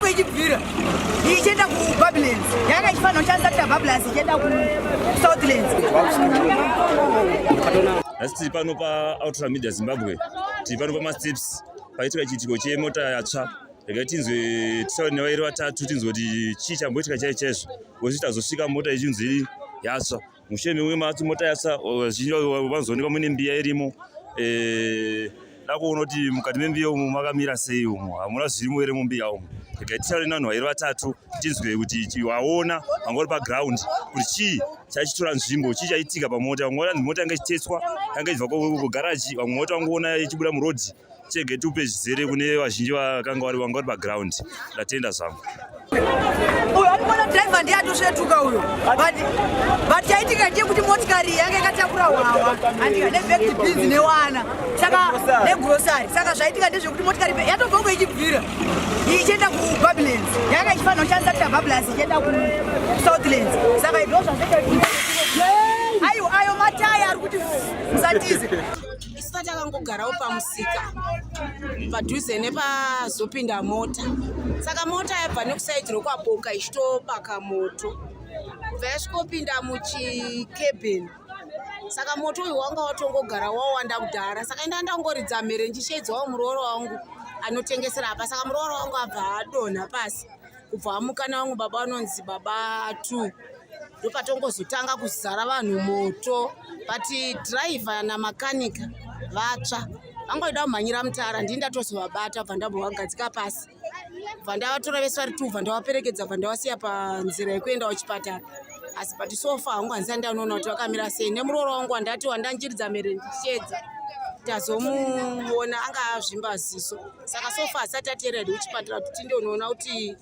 ichibvira ichienda kubablands yanga ichifanira kushandisa kuita bablands ichienda kusouthlands asi tiri pano paultra media zimbabwe tiri pano pamasteps paitika chiitiko chemota yatsva regai tinzwe tisaure nevairi vatatu tinzwe kuti chii chamboitika chai chaizvo kuti tazosvika mota ichinzi yatsva musheni uyu matsi motayasa vazhinji vanozoonekwa mune mbiya irimo eh, dakuona kuti mukati membiya umu makamira sei umu hamuna zvirimo here mumbiya umu regai titaure nevanhu vairi vatatu tinzwe kuti waona vanga uri paground kuti chii chaichitora nzvimbo chii chaitika pamota vamwe vati mota yanga ichitetswa yanga ichibva kugaraji vamwe mota vangoona ichibuda murodhi chege tiupe zvizere kune vazhinji vakanga vari vanga vari paground ndatenda zvangu uyo akumona driver ndiye atosvetuka uyo but chaitika ndiye kuti motikari yange ikatakura hwawa andika nebekti bhinzi newana saka negrosari saka zvaitika ndezvekuti motikari yatobvongo ichibvira ichienda kubabylans yanga ichifanira kushandisa kuita bablas ichienda kusouthlands saka idoo zvazvaiayo ayo mataya ari kuti musatize Saka takangogarawo pamusika padhuze nepazopinda mota. Saka mota yabva nekusaidhi rokwaboka ichitobaka moto kubva yasvikopinda muchikebheni saka moto uyu wanga watongogara wawanda kudhara saka inda ndangoridza mhere ndichisheedzawo muroora wangu anotengesera apa saka muroora wangu abva adonha pasi kubva amukana vamwe baba vanonzi baba two ndopatongozotanga kuzara vanhu moto but driver namakanika vatsva vangoida kumhanyira mutara ndii ndatozovabata bva ndambovagadzika pasi bva ndavatora vese vari two bva ndavaperekedza bva ndavasiya panzira yekuenda kuchipatara asi but sofa hangu handisati ndanoona kuti vakamira sei nemuroora wangu wandati wandanjiridza mere ndichedza tazomuona anga azvimba ziso saka so far asati ateera ed uchipatara kuti tinde unoona kuti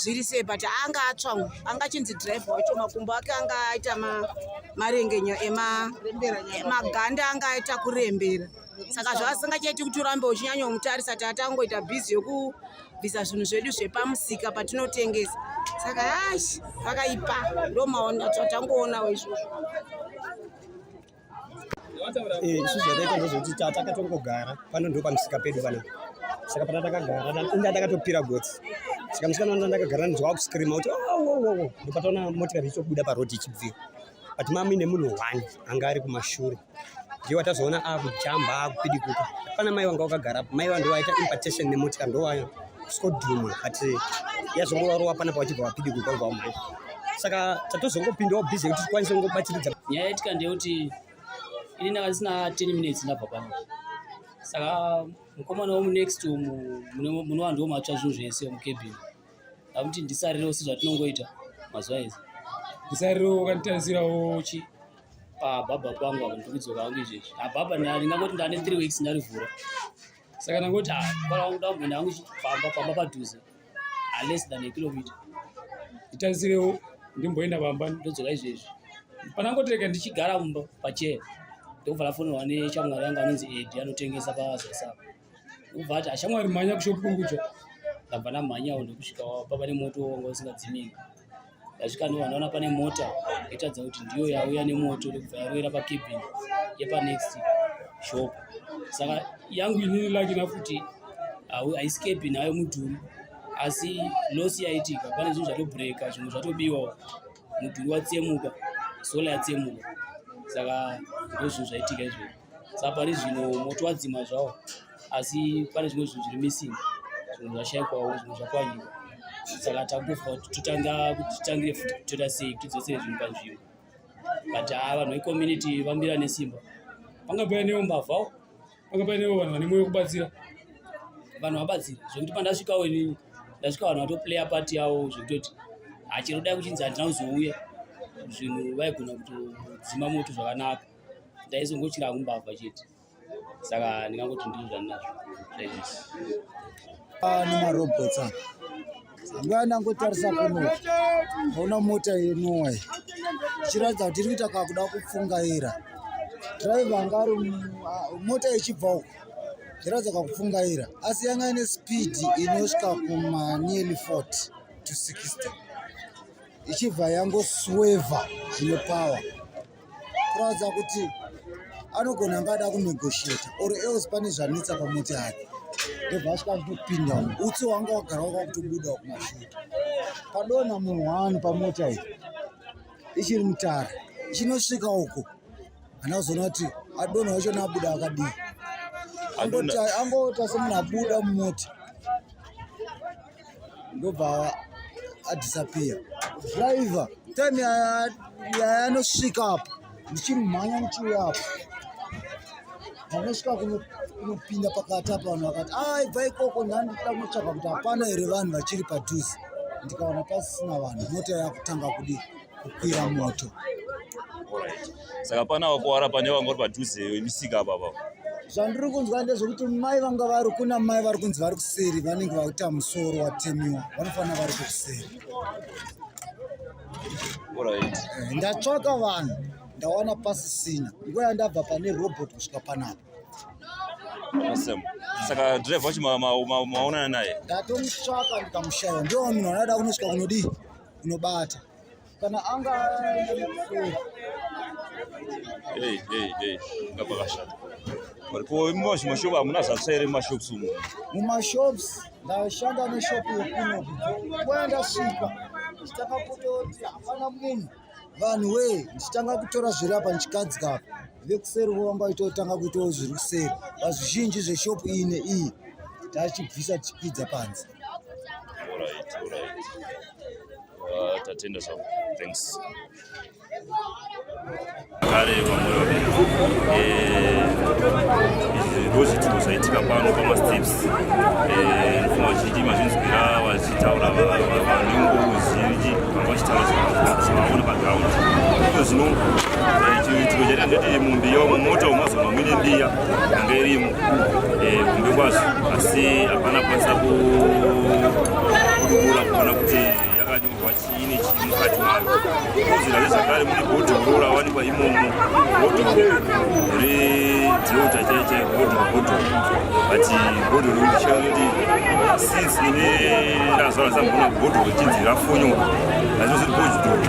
zviri sei but anga atsva anga achinzi drive wacho makumbo ake anga aita marengenyo emaganda anga aita kurembera saka zvaasingachaiti kuti urambe uchinyanya umutarisa taatangoita bhizi yokubvisa zvinhu zvedu zvepamusika patinotengesa saka ash vakaipa ndomaona tatangoona waizvozvo Eh, isu zvataita ndezvekuti takatongogara pano ndo pamusika pedu pana saka pana takagara inda takatopira gotsi saka musikana wanda ndakagara ndizwa wakuscreama kuti owowowo oh, ndopataona motikari ichobuda parodi ichibvira but mami nemunhu one anga ari kumashure ndiye watazoona akujamba akupidikuka pana mai wanga wakagarapo mai wandowaita impartation nemotikari ndowaya skodhumwa but yazongorova panapa vachibva vapidi kukwaiva mhai saka tatozongopindawo busy kuti tikwanise kungobatsiridza nyaya yaitika ndeyekuti ini ndanga ndisina 10 minutes ndabva pano saka mukomana womunext umu mune vanhu vomatsva zvinhu zvese mukebhini amuti ndisarirewo sezvatinongoita mazuva ese ndisarirewo kanditarisirawo chi pababa pangu apo ndikudzoka hangu izvezvi ababa ndingangoti ndane three weeks ndarivhura saka ndangoti ah, mubara wangu ndamboenda hangu chifamba pamba padhuze aless ah, than a kilomita nditarisirewo ndimboenda pamba ndodzoka izvezvi panangotireka ndichigara mumba pachee ndokubva lafonirwa neshamwari yangu anonzi edi anotengesa pazasapa ubva ati ashamwari ah, mhanya kushopu kuri kudya ndabva ndamhanyawo ndokusvika papa nemoto wanga usingadzimiki Ndasvikani vanoona pane mota yatadza kuti ndiyo yauya nemoto ndokubva yaroera pakebin yepanext shop saka yangu inini lakina futi haisi kebin hayo mudhuri asi losi yaitika pane zvinhu zvatobreaka zvimwe zvatobiwawo mudhuri watsemuka sola yatsemuka saka ndozvinhu zvaitika izvozvo sa pari zvino moto wadzima zvawo asi pane zvimwe zvinhu zviri missing zvinhu zvashaikwawo zvinhu zvakwanyika saka takutofa kuti totanga kuti titangire futi kutoita sei kuti tidzosere zvinhu panzvimbo but haa ah, vanhu vecommunity vamira nesimba panga painewo mbavhawo panga painewo vanhu vane moyo kubatsira vanhu vabatsira zvekuti pandasvikawo inini ndasvika vanhu vatoplaya pati yavo zvekutoti hachero dai kuchinzi handina kuzouya zvinhu vaigona kutodzima moto zvakanaka ndaizongotyira kumbabva chete saka ndingangoti ndiri zvandinazvo zvaizvisi ah, nemarobhots aa nguva ndangotarisa kuno ona mota yenuwa ichiratidza kuti iri kuita kakuda kupfungaira driver anga ari ah, mota ichibva uko ichiratidza kakupfungaira asi yanga ine speed inosvika kuma nearly 40 to 60 ichibva yangosweva zvine power kuratidza kuti anogona anga ada kunegosheta or else pane zvanetsa pamoti ake ndobva asvika ndopinda umu utsi wanga wagara waka kutobuda kumashuta padona munhu wani pamota iyi ichiri mutara ichinosvika uko hana kuzoona kuti adona wachona abuda akadii angoti angoita semunhu abuda mumota ndobva adisappear driver time yayanosvika apo ndichimhanya ndichiuya apo panosvika kunopinda pakati apa vanhu vakati a ah, ibva ikoko ndandida kunotsvaga kuti hapana here vanhu vachiri padhuze ndikaona pasisina vanhu mota yakutanga kudii kukwira moto saka pana wakuwara pane vanga vari padhuze imisika apapa zvandiri kunzwa ndezvekuti mai vanga vari kuna mai vari kunzi vari kuseri vanenge vakuita musoro watemiwa vanofanira vari kukuseri eh, ndatsvaka vanhu ndawana pasisina nguva yandabva pane robot kusvika panapa Awesome. Saka driver wacho maonana naye? Ndatomutsvaka ndikamushaya. Ndiwo munhu anoda kunosvika kunodii? unobata kana anga hey hey hey ngapa kashata varipo mumashopu hamuna zvatsva here mumashops umu mumashops ndashanda neshopu yekuno kwaya ndasvika ndichitanga kutoti hapana munhu vanhu wee ndichitanga kutora zviri apa ndichikadzi kapa vekuseri vovamba itotanga kuitawo zviri kuseri pazvizhinji zveshopu ine iyi tachibvisa tichipidza panze Alright, alright. Uh, tatenda zvangu. Thanks. Kare vamwe vaviri. Eh, ndozvitiko zvaitika pano pamasteps eh, ndofuma vazhinji mazvinzwira vachitaura vanenguvu zhinji vanga vachitaura zvavaona paground iko zvino eh, chitiko chaita ndoti mumbiya mumota umazono amwine mbiya hunde irimo eh, hunde kwazvo asi hapana kwanisa kudubura kuona kuti yakanyorwa chii nechii mukati mayo kozira zvakare mune bhodhi guru rawanikwa imomo bhodhi redziota chaiche bhodhi bhodhi but bhodhi riri ndichia kuti since ine razvara zambona bhodhi richinzi rafonyorwa azvinoziri bhodhi